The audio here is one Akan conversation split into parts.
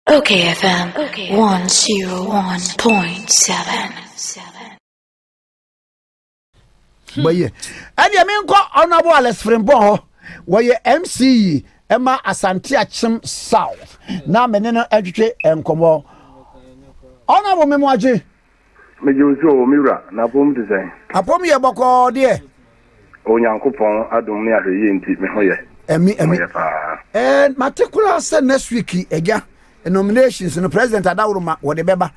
Okay FM 101.7 bɛyɛ ɛdeɛ menkɔ honorable alex frimpong hɔ wɔyɛ mce ɛma asante akyem south na mene no atwitwe nkɔmmɔ honorable memoagye Megye wo so o, me wura, na apɔw mu te sɛn? Apɔw yɛ bɔkɔɔ deɛ. Onyankopɔn adom ne ahwɛyie nti, me ho yɛ. Ɛmi, ɛmi. Me ho yɛ paa. Ɛɛ, mate koraa sɛ next week, agya, nominations no, President Adaworoma, wɔde bɛba.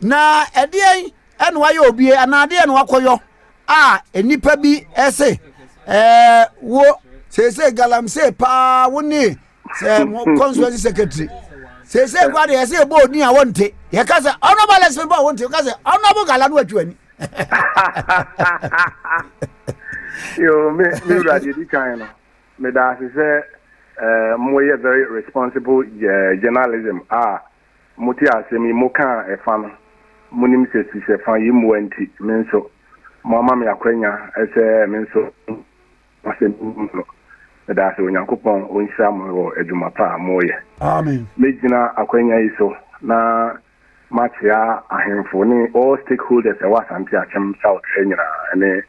Na ɛdeɛn ɛna wayɛ obie, anaa adeɛ na wakɔyɔ a nnipa bi ɛse, ɛɛ, wo, seesei galamsey paa, wo ne sɛ mo constituency secretary sese kura de yɛsɛ yɛbɔ oni a wɔnte yɛka sɛ honorable alex mebɔ a wɔnte yɛka sɛ honorable gala no atwa ani yo me me wura deɛ di kan no meda ase sɛ eh, moyɛ very responsible eh, journalism a mote asɛm yi mokaa ɛfa no monim sɛ sisɛ fa yi mmoa nti me nso moama me akwanya sɛ me nso Asɛm no mu no. Meda ase, Onyankopɔn ɔnhyira mo wɔ adwuma pa a moreyɛ. Amen. Mɛgyina akwanya yi so na makyea ahemfo ne all stakeholders a ɛwɔ Asante Akyem South ha nyinaa ne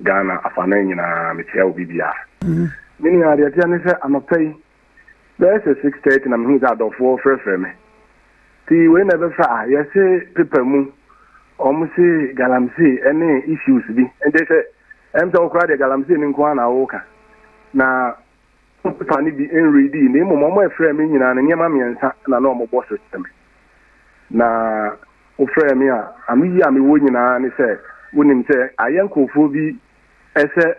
Ghana afanan nyinaa, mekyea obi biara. Me nua, deɛ ɛteɛ ne sɛ anɔpa yi bɛyɛ sɛ six thirty na mehuu sɛ adɔfoɔ frɛfrɛ me nti wei na ɛbɛfa a yɛse pepa mu wɔn se galamsey ɛne issues bi nti sɛ ɛm sɛ wokora deɛ galamsey no nko ara na woka na pepa no bi nredi na mmom wɔn ɛfrɛ me nyinaa no nneɛma mmiɛnsa na na wɔn bɔ so kyerɛ me na wofrɛ me a ano yi a mewɔ nyinaa ne sɛ wonim sɛ ayɛ nkurɔfoɔ bi ɛsɛ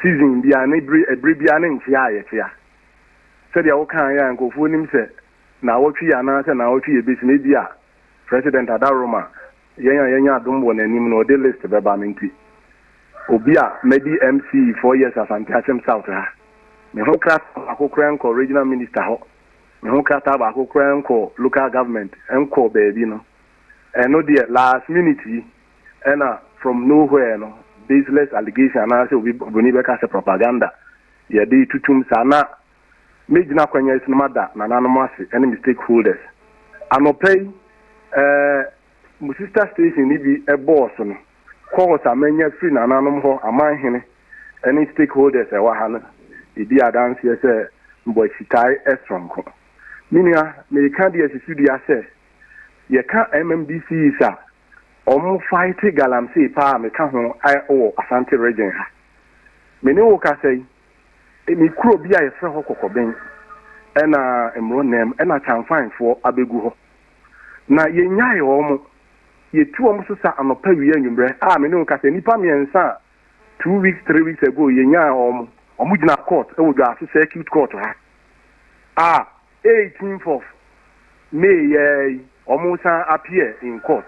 season biara ne bere ɛbere biara ne nkyea a yɛkyea. Sɛdeɛ wo kaeɛ a nkurɔfoɔ nim sɛ naawɔtwe yi anaa sɛ naawɔtwe yi ɛbɛsi no ebi a President adaworo ma yɛn a yɛanya adom wɔ n'anim no ɔde list bɛba me nti obi a madi MC four years Asante Akyem South ha me ho krataa baako koraa nkɔ regional minister hɔ me ho krataa baako koraa nkɔ local government nkɔ baabi no ɛno deɛ last minute yi ɛna from no where no baseless allegation anaasɛ obi obroni bɛka sɛ propaganda yɛde tutum saa na mɛgyina kwanya yi so na mada nananom ase ɛne me stakeholders anɔpa yi ɛɛ mo sister station no bi ɛbɔɔ so no calls a manya firi nananom hɔ aman hene ɛne stakeholders ɛwɔ ha no ɛdi adanseɛ sɛ mbɔ akyitae ɛsoronko menua meka deɛ susu dua sɛ yɛka MMDCs a Ɔmo fighte galamsey paa me ka ho wɔ Asante region ha. Me ne wo kasa yi, me kuro bi a yɛfrɛ hɔ Kɔkɔben ɛna mmoro nam ɛna Kyanfan foɔ abɛgu hɔ. Na yɛ nyae ɔmo, yɛ tu ɔmo so sa anɔpa wia anwummerɛ a me ne wo kasa yi nnipa mmiɛnsa a two weeks three weeks ago yɛ nyae ɔmo, ɔmo gyina court ɛwɔ Dwaso circuit court ha a. 18th of May yi ara yi wɔn san appear in court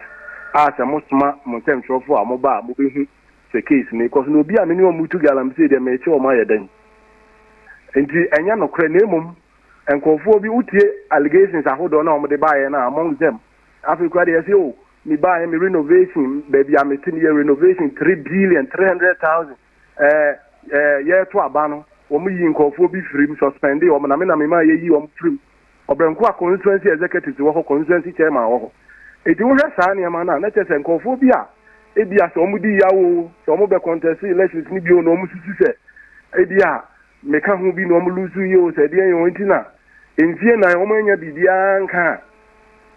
a sɛ mo soma mo nsɛmtwerɛfoɔ a mo ba a mo bɛ hu sɛ case no rekɔ so na obi a me ne wɔn retu galamsey deɛ merekye wɔn ayɛ dɛn nti ɛnyɛ nokorɛ na mmom nkurɔfoɔ bi wotie allegations ahodoɔ na wɔn de baeɛ no a among them afei kura deɛ ɛsɛ o me baeɛ me renovation baabi a mete meyɛ renovation three billion three hundred thousand ɛɛ ɛɛ yɛreto aba no wɔn yii nkorɔfoɔ bi firi mu suspendee wɔn na me na me maa yɛyi wɔn firi mu Ɔbrɛnkoa constituency executives wɔ hɔ constituency chairman wɔ hɔ eti wohwɛ saa nneɛma no a na kyɛ sɛ nkorɔfoɔ bi a ebia sɛ wɔn di yaw o sɛ wɔn bɛ contest elections no bio na wɔn susu sɛ ebia Me ka ho bi na wɔn lose yie o sɛ ɛdeɛn yɛ wɔn nti na mfie nan wɔn anya biribiara nka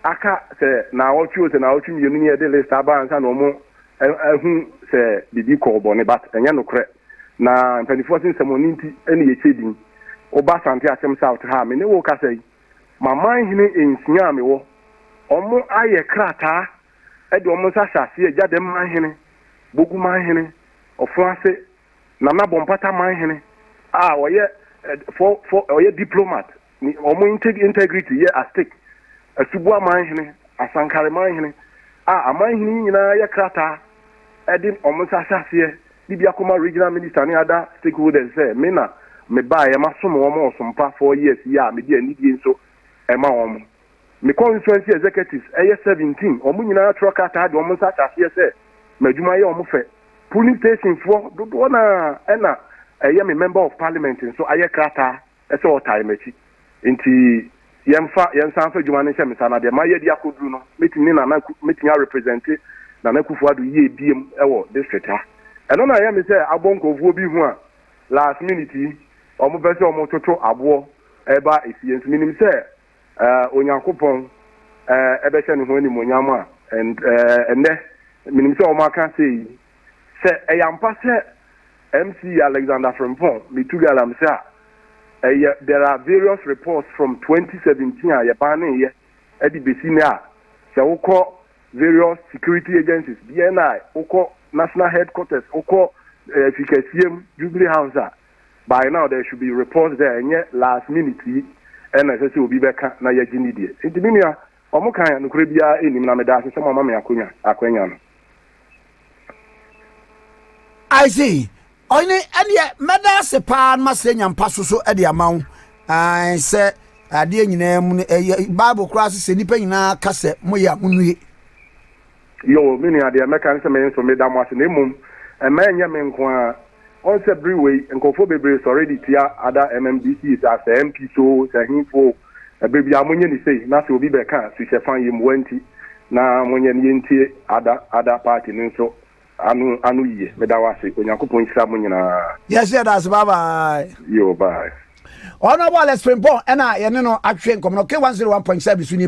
a aka sɛ naawɔtwe o sɛ naawɔtwe mmienu ni ɛde list aba ansa na wɔn ahu sɛ biribi kɔɔ bɔne but ɛnyɛ nokorɛ na mpanimfoɔ se nsɛmɔne nti ɛna yɛkyɛ din woba Asante Akyem South ha a me ne wo kasa yi maman hene nsia a mewɔ wɔn ayɛ krataa ɛde wɔn nsa hyɛ aseɛ gya dɛm man hene bogu man hene ɔfo ase Nana Bompata Manhene a ɔyɛ for for ɔyɛ diplomat ne wɔn integrity yɛ at stake. Asubua Manhene, Asankare Manhene a amanhene yi nyinaa yɛ krataa ɛde wɔn nsa ahyɛ aseɛ de bi akɔma regional minister ne other stakeholders sɛ me na mebaeɛ masom wɔn ɔsom pa four years yi a mede anidie nso ɛma wɔn. me constituency executives, ɛyɛ seventeen, wɔn nyinaa atwerɛ krataa de wɔn nsa ahyɛ aseɛ sɛ m'adwuma yɛ wɔn fɛ. Polling stationfoɔ dodoɔ no ara ɛna ɛyɛ me member of parliament nso ayɛ krataa sɛ wɔtae m'akyi. Nti yɛmfa, yɛnsan mfa adwuma no nhyɛ me nsa na deɛ mayɛ de akɔduru no, mɛtumi ne Nana, mɛtumi arepresente Nana Akufo-Addo yie biom wɔ district ha. Ɛno na ɛyɛ me sɛ abɔ nkurɔfoɔ bi hu a last minute yi wɔpɛ sɛ wɔtoto aboɔ ɛba efie. Nso menim sɛ Onyankopɔn bɛhyɛ ne ho animuonyam a, ɛnnɛ menim sɛ wɔaka sɛ yi, sɛ ɛyɛ ampa sɛ MC Alexander Frimpong retu galamsey a, ɛyɛ there are various reports from 2017 a yɛbanneeɛ de bɛsi nnɛ a, sɛ wokɔ various security agencies, BNI, wokɔ National Headquarters, wokɔ Fikasiem, Jubilee House a, by now there should be reports there ɛnyɛ last minute yi ɛna ɛsɛ sɛ obi bɛka na yɛgye ne deɛ nti me nua wɔn kan a nokorɛ biara ɛnim na meda ase sɛ mo ama me akonya akwanya no. I see. Ɔyene ɛdeɛ mɛda ase paa no masɛ nya mpa so so ɛde ama wo sɛ adeɛ nyinaa mu no ɛyɛ Bible koraa sɛ sɛ nnipa nyinaa ka sɛ moyɛ a monue. Yoo, me nua, deɛ mɛka ne sɛ me nso meda mo ase, na mmom mma ɛnyɛ me nko ara. Woahu sɛ bere wei nkurɔfoɔ bebree sɔre de tia ada MMDCs a, sɛ MPs o, sɛ hefoɔ o, ɛberɛ biara monyɛ no sei na sɛ obi bɛka a, suhyɛ fa yɛ mua nti, na monyɛ no yɛntie ada, ada party no nso ano, ano yie. Meda wo ase. Onyankopɔn nhyira mo nyinaa. Yɛso yɛda ase, bye bye. Yoo, bye. Honourable Alex Frimpong na yɛne no atwetwe nkɔmmɔ no, K101.7 so nie.